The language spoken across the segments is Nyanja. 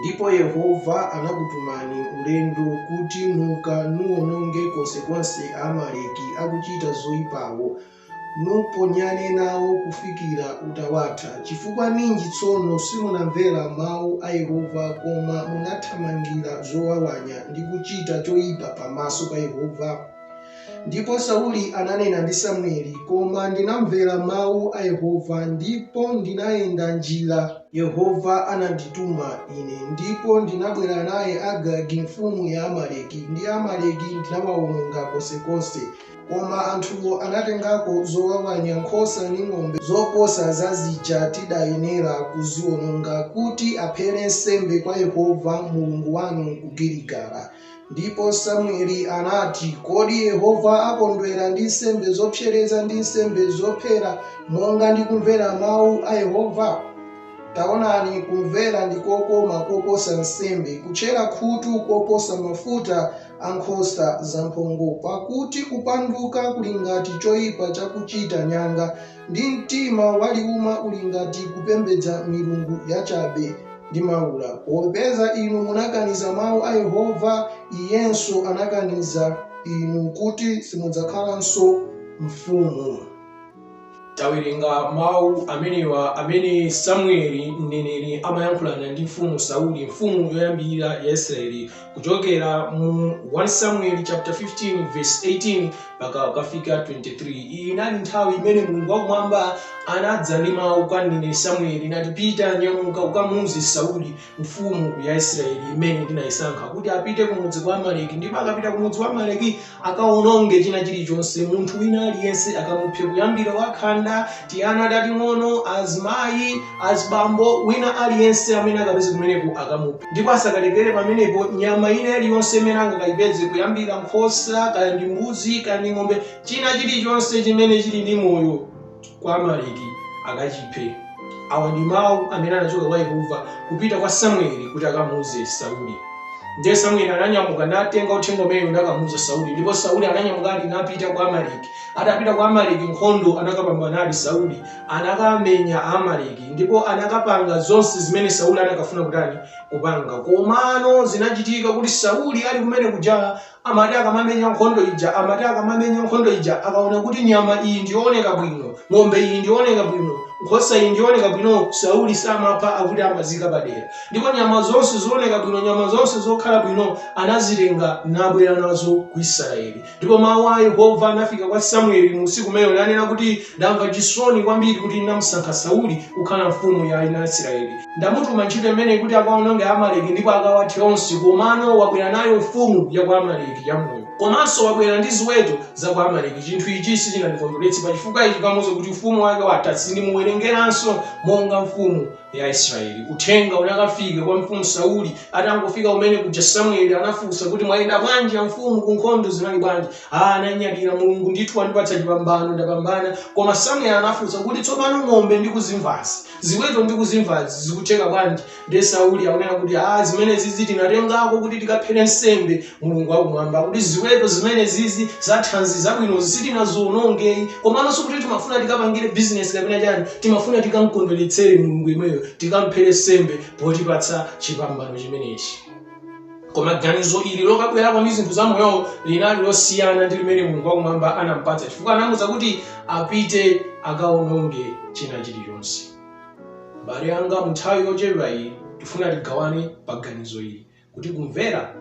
Ndipo Yehova anakutumani ulendo kuti Muka nuwononge konsekonse Aamaleki akuchita zoipawo, nuponyane nawo kufikira utawatha. Chifukwa ninji tsono simunamvera mau a Yehova, koma munathamangira zowawanya, ndi kuchita choipa pamaso pa Yehova? Ndipo Sauli ananena ndi Samueli, Koma ndinamvera mawu a Yehova, ndipo ndinayenda njira Yehova anandituma ine, ndipo ndinabwera naye Agagi mfumu ya Amaleki, ndi Amaleki ndinawawononga konsekonse. Koma anthuwo anatengako zowawanya nkhosa ndi ng'ombe zoposa za zija tidayenera kuziwononga, kuti aphere nsembe kwa Yehova Mulungu wanu ku Giligala. Ndipo Samueli anati, Kodi Yehova akondwera ndi nsembe zopsereza ndi nsembe zophera monga ndi kumvera mawu a Yehova? Taonani, kumvera ndi kokoma koposa nsembe, kutchera khutu koposa mafuta a nkhosa zamphongo, pakuti kupanduka kuli ngati choipa chakuchita nyanga, ndi mtima waliuma uli ngati kupembedza milungu yachabe ndi maula. Popeza inu munakaniza mawu a Yehova, iyenso anakaniza inu kuti simudzakhalanso mfumu. Tawerenga mawu amenewa amene Samueli mneneri amayankhulana ndi Mfumu Sauli, mfumu yoyambirira ya Israyeli, kuchokera mu 1 samueli chapter 15 verse 18 mpaka ukafika 23 iyi inali nthawi imene mulungu wakumwamba anadza ndi mawu kwa mneneri samueli nati pita nyamuka ukamuuze sauli mfumu ya israeli imene ndinayisankha kuti apite kumudzi kwa amaleki ndipo akapita kumudzi wa amaleki akawononge china chilichonse munthu wina aliyense akamuphe kuyambira wakhanda tiana tating'ono azimayi azibambo wina aliyense amene akapeze kumeneko akamuphe ndipo asakalekere pamenepo nyama ina iliyonse imene angakayipeze kuyambira nkhosa kaya ndi mbuzi kaya ndi ng'ombe china chilichonse chimene chili ndi moyo kwa Amaleki akachiphe. Awa ndi mawu amene anachoka kwa Yehova kupita kwa Samueli kuti akamuuze Sauli. Ndiye Samueli ananyamuka natenga uthenga umenewu nakamuuza Sauli, ndipo Sauli ananyamukadi napita kwa Amaleki. Atapita kwa Amaleki nkhondo anakapambanadi Sauli, anakamenya Amaleki ndipo anakapanga zonse zimene Sauli anakafuna kutani kupanga. Komano zinachitika kuti Sauli ali kumene kuja amati akamamenya nkhondo ija amati akamamenya nkhondo ija akaona kuti nyama iyi ndiyooneka bwino ng'ombe iyi ndiyooneka bwino nkhosa iyi ndiyooneka bwino sauli samapha akuti amaziika padera ndipo nyama zonse zooneka bwino nyama zonse zokhala bwino anazitenga nabwera nazo ku israeli ndipo mawu a yehova anafika kwa samueli mu usiku umenewo nanena kuti ndamva chisoni kwambiri kuti ndinamusankha sauli kukhala mfumu ya ana a israeli Ndamutuma ntchito imeneyi kuti akawononge Amaleki ndipo akawathe onse, komano wabwera nayo mfumu ya ku Amaleki yamoyo. Komanso wabwera ndi ziweto za ku Amaleki. Chinthu ichi sichinandikondweretse. Pa chifukwa ichi kamuwuze kuti ufumu wake watha. Sindimuwerengeranso monga mfumu ya Israeli. Uthenga unakafika kwa Mfumu Sauli. Atangofika kumene kuja Samueli anafunsa kuti mwayenda bwanji amfumu ku nkhondo zinali bwanji? Ah, ananyadira Mulungu ndithu wandipatsa chipambano ndapambana. Koma Samueli anafunsa kuti tsopano ng'ombe ndikuzimvazi Ziweto ndikuzimvazi zikutheka bwanji? Ndiye Sauli akunena kuti, Aaa zimenezizi tinatengako kuti tikaphere nsembe Mulungu wakumwamba. Kuti ziweto zimenezizi zathanzi zabwinozi sitinaziwononge ayi. Komano sikuti timafuna tikapangire business kapena chani. Timafuna tikamkondweretsere Mulungu yemweyo, tikamphere nsembe potipatsa chipambano chimenechi. koma ganizo ili lokabwerako ndi zinthu zamoyozo linali losiyana ndi limene mulungu wakumwamba anampatsa chifukwa anamuuza kuti apite akaononge china chilichonse m'bale wanga munthawi yochepa iyi tifuna tigawane pa ganizo ili kuti kumvera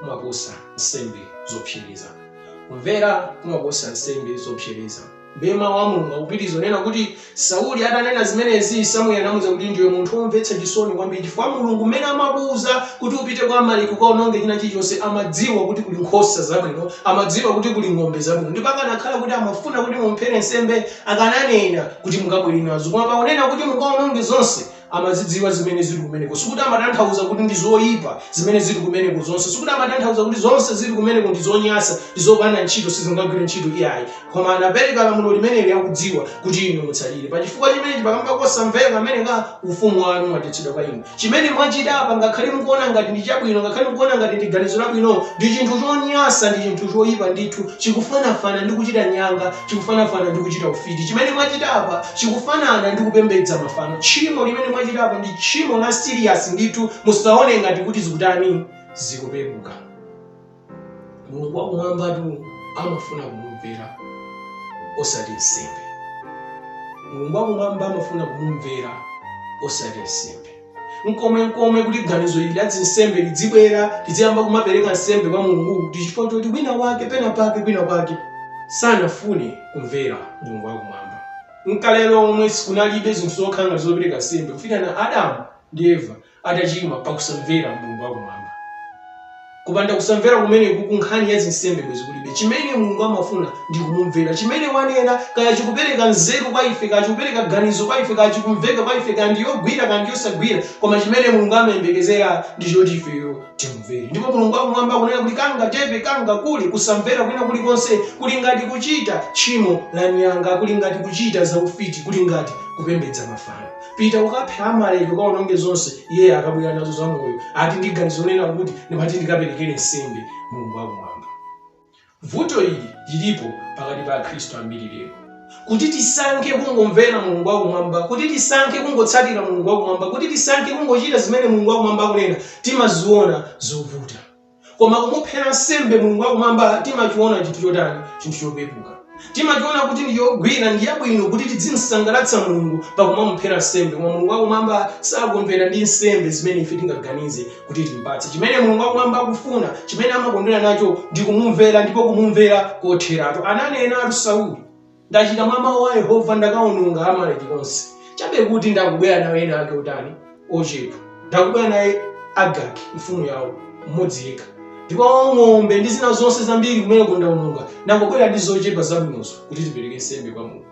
kumaposa nsembe zopsereza kumvera kumaposa nsembe zopsereza Ndiye Mawu a Mulungu akupitiriza kunena kuti, Sauli atanena zimenezi, Samueli anamuuza kuti, Ndiwe munthu womvetsa chisoni kwambiri, chifukwa Mulungu mmene amakuuza kuti upite kwa Amaleki ukawononge china chilichonse, amadziwa kuti kuli nkhosa zabwino, amadziwa kuti kuli ng'ombe zabwino, ndipo akanakhala kuti amafuna kuti mumuphere nsembe, akananena kuti mukabwere nazo. Koma pakunena kuti mukawononge zonse, amazidziwa zimene zili kumeneko sikuti amatanthauza kuti ndi zoyipa zimene zili kumeneko zonse sikuti amatanthauza kuti zonse zili kumeneko ndi zonyasa ndi zopanda ntchito sizingagwire ntchito iyayi koma anapereka lamulo limeneli akudziwa kuti inu mutsatire pa chifukwa chimenechi kamba kosamvera kumeneku ufumu wanu wathetsedwa kwa inu chimene mwachita apa ngakhale mukuona ngati ndi chabwino ngakhale mukuona ngati ndi ganizo labwino ndi chinthu chonyasa ndi chinthu choyipa ndithu chikufanafana ndi kuchita nyanga chikufanafana ndi kuchita ufiti. Chimene mwachita apa chikufanana ndi kupembedza mafano. Tchimo limene mwachita apa ndi tchimo la serious ndithu, musaone ngati kuti zikutani zikupepuka. Mulungu wakumwambatu amafuna kumumvera osati nsembe. Mulungu wakumwamba amafuna kumumvera osati nsembe. nkomwenkomwe kuti ganizo ili la zinsembe lidzibwera tidziyamba kumapereka nsembe kwa mulungu kuti chifukwa choti wina wake pena pake kwina kwake sanafune kumvera mulungu wakumwamba nkale lomwe si kunalibe zinthu zokhala ngati zopereka nsembe kufikira adamu ndi eva atachimwa pakusamvera mulungu wakumwamba Kupanda kusamvera kumeneku nkhani ya zinsembe bwezi kulibe. Chimene Mulungu amafuna ndi kumumvera. Chimene wanena, kaya chikupereka nzeru kwa ife, kaya chikupereka ganizo kwa ife, kaya chikumveka kwa ife, kaya ndi yogwira, kaya ndi yosagwira, koma chimene Mulungu amayembekezera ndi choti ifeyo timumvere. Ndipo Mulungu wakumwamba akunena kuti kangachepe, kangakule, kusamvera kwina kulikonse kuli ngati kuchita tchimo la nyanga, kuli ngati kuchita zaufiti, kuli ngati kupembedza mafano. Pita ukaphe Amaleki, ukawononge zonse. Iye akabwera nazo zamoyo, ati ndi ganizo lonena kuti ndimati ndikaperekere nsembe Mulungu wakumwamba. Vuto ili lilipo pakati pa Akhristu ambiri lero, kuti tisankhe kungomvera Mulungu wakumwamba, kuti tisankhe kungotsatira Mulungu wakumwamba, kuti tisankhe kungochita zimene Mulungu wakumwamba akunena, timaziona zovuta. koma kumuphera nsembe mulungu wakumwamba timachiona chinthu chotani chinthu chopepuka timachiona kuti ndi yogwira ndi yabwino kuti tidzimsangalatsa mulungu pakumamuphera nsembe koma mulungu wakumwamba sakondwera ndi nsembe zimene ife tingaganize kuti timpatse chimene mulungu wakumwamba akufuna chimene amakondwera nacho ndi kumumvera ndipo kumumvera kotheratu ananenatu sauli Ndachita mwa mawu a Yehova, ndakawononga Amaleki onse. Chabe kuti ndangobwera nawo ena ake otani? Ochepa. Ndangobwera naye Agagi, mfumu yawo, mmodzi yekha. Ndipo ng'ombe ndi zina zonse zambiri kumeneko ndawononga. Ndangobwera ndi zochepa zabwinozo kuti tipereke nsembe kwa Mulungu.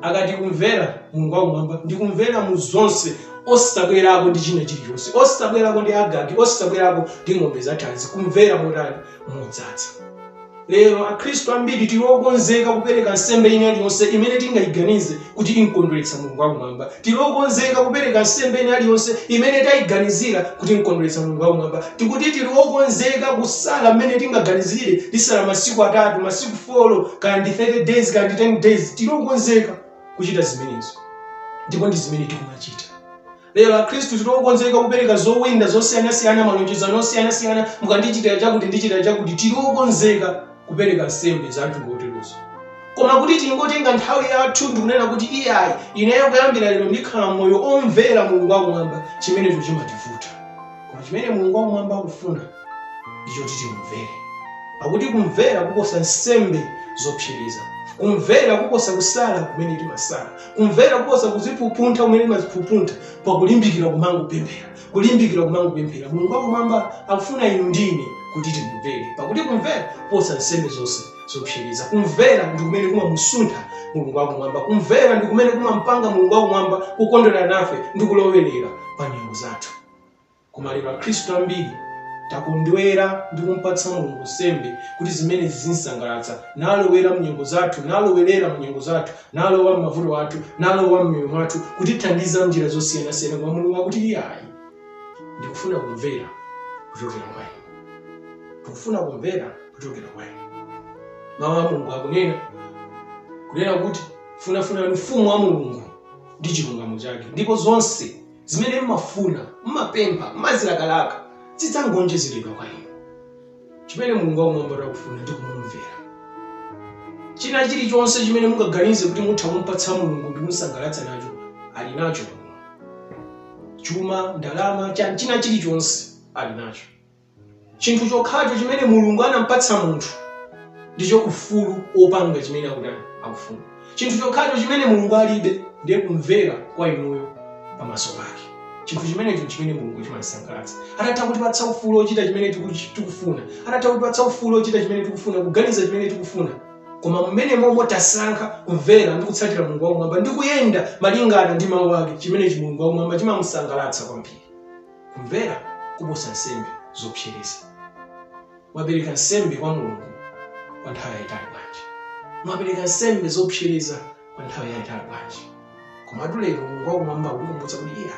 Akati kumvera Mulungu wakumwamba ndi kumvera mu zonse osabwerako ndi china chilichonse osabwerako ndi agagi osabwerako ndi ng'ombe zathanzi kumvera motani modzadza Lero, Akhristu ambiri tili okonzeka kupereka nsembe ina iliyonse imene tingaiganize kuti im'kondweretsa Mulungu wakumwamba. Tili okonzeka kupereka nsembe ina iliyonse imene taiganizira kuti im'kondweretsa Mulungu wakumwamba. Tikuti tili okonzeka kusala mmene tingaganizire, tisala masiku atatu, masiku folo, kaya ndi 30 days, kaya ndi 10 days. Tili okonzeka kuchita zimenezo, ndipo ndi zimene tikumachita. Lero akhristu tiri okonzeka kupereka zowinda zosiyanasiyana, malonjezano osiyanasiyana, mukandichitira chakuti ndichitira chakuti. Tiri okonzeka kupereka nsembe za mtundu woterowo. Koma kuti tingotenga nthawi yathu ndikunena kuti iyayi, ineyo kuyambira lero ndikhala moyo omvera Mulungu wakumwamba, chimenecho chimativuta. Koma chimene Mulungu wakumwamba akufuna ndi choti timumvere. Pakuti kumvera kuposa nsembe zopsereza. Kumvera kuposa kusala kumene timasala. Kumvera kuposa kuziphupuntha kumene timaziphupuntha pakulimbikira kumangopemphera, kulimbikira kumangopemphera. Mulungu wakumwamba akufuna inu ndi ine kuti timumvere, pakuti kumvera kuposa nsembe zonse zopsereza. Kumvera ndi kumene kumamusuntha Mulungu wakumwamba. Kumvera ndi kumene kumampanga Mulungu wakumwamba kukondwera nafe ndi kulowerera pa nyengo zathu. Koma lero Akhristu ambiri takondwera ndi kumpatsa Mulungu nsembe kuti zimenezi zimsangalatsa, nalowera mnyengo zathu, nalowerera munyengo zathu, nalowa mmavuto athu, nalowa mmiyoyo mwathu, kutithandiza mnjira zosiyanasiyana koma Mulungu akuti iyayi, ndikufuna kumvera kuchokera kwa inu. Ndikufuna kumvera kuchokera kwa inu. Mawu a Mulungu akunena kunena kuti funafunani ufumu wa Mulungu ndi chilungamo chake ndipo zonse Zimene mumafuna, mumapempha, mumazilakalaka, zidzangonjezeredwa kwa inu. Chimene Mulungu wakumwambayo akufuna ndi kumumvera. China chilichonse chimene mungaganize kuti mutha kumpatsa Mulungu ndi kumsangalatsa nacho, ali nacho. Chuma, ndalama, china chilichonse ali nacho. chinthu chokhacho chimene mulungu anampatsa munthu ndicho ufulu wopanga chimene akutani akufuna chinthu chokhacho chimene mulungu alibe ndiye kumvera kwa inuyo pamaso pake chinthu chimenecho chimene mulungu chimamsangalatsa atatha kutipatsa ufulu wochita chimene tiku- tikufuna atatha kutipatsa ufulu wochita chimene tikufuna kuganiza chimene tikufuna koma mmene momwe tasankha kumvera ndi kutsatira mulungu wakumwamba ndi kuyenda malingana ndi mawu ake chimenechi mulungu wakumwamba chimamusangalatsa kwambiri kumvera kuposa nsembe zopsereza? Mwapereka nsembe kwa Mulungu kwa nthawi yayitali bwanji? Mwapereka nsembe zopsereza kwa nthawi yayitali bwanji? Komatu lero Mulungu wakumwamba akutikumbutsa kuti iye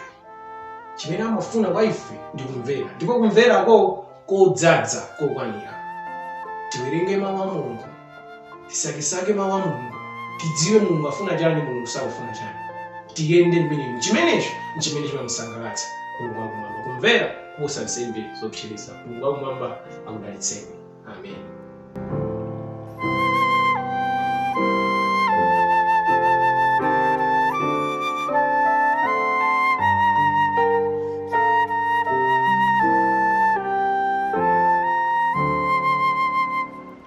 chimene amafuna kwa ife ndi kumvera, ndipo kumverako kodzaza kokwanira. Tiwerenge mawu a Mulungu tisakesake mawu a mulungu tidziwe mulungu afuna chani mulungu sakufuna chani tiyende mmenemo chimenecho nchimene chimamusangalatsa mulungu wakumwamba kumvera kuposa nsembe zopsereza mulungu wakumwamba akudalitseni amen